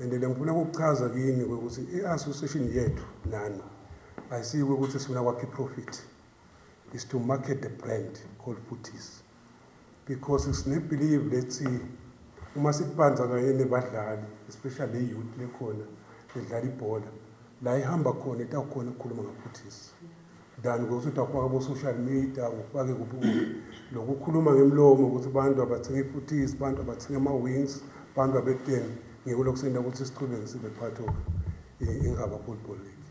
And le ngifuna ukukuchaza kini ukuthi i-association yethu nani ayisiyi ukuthi sifuna kwakhe i-profit is to market the brand called Futis because sinebelieve lethi uma sikubanza kanye nebadlali especially le youth lekhona edlala ibhola la ihamba khona itawukhona ukukhuluma ngafuthisi than ukuthi utakufaka bo social media ufake kuphi kuphi lokukhuluma ngemlomo ukuthi abantu abathenga ifuthisi abantu abathenga ama-wings abantu abekuteni ngiko lokusenda ukuthi siqhubeke sibe part of ingaba football league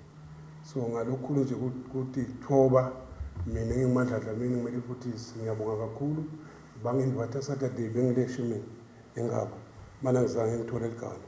so ngalokukhulu nje ukuthi thoba mina ngingimandla dlamini ngimele ifuthisi ngiyabonga kakhulu bangindibatha saturday bengileshe mina engaba mana ngizange ngithole ligalo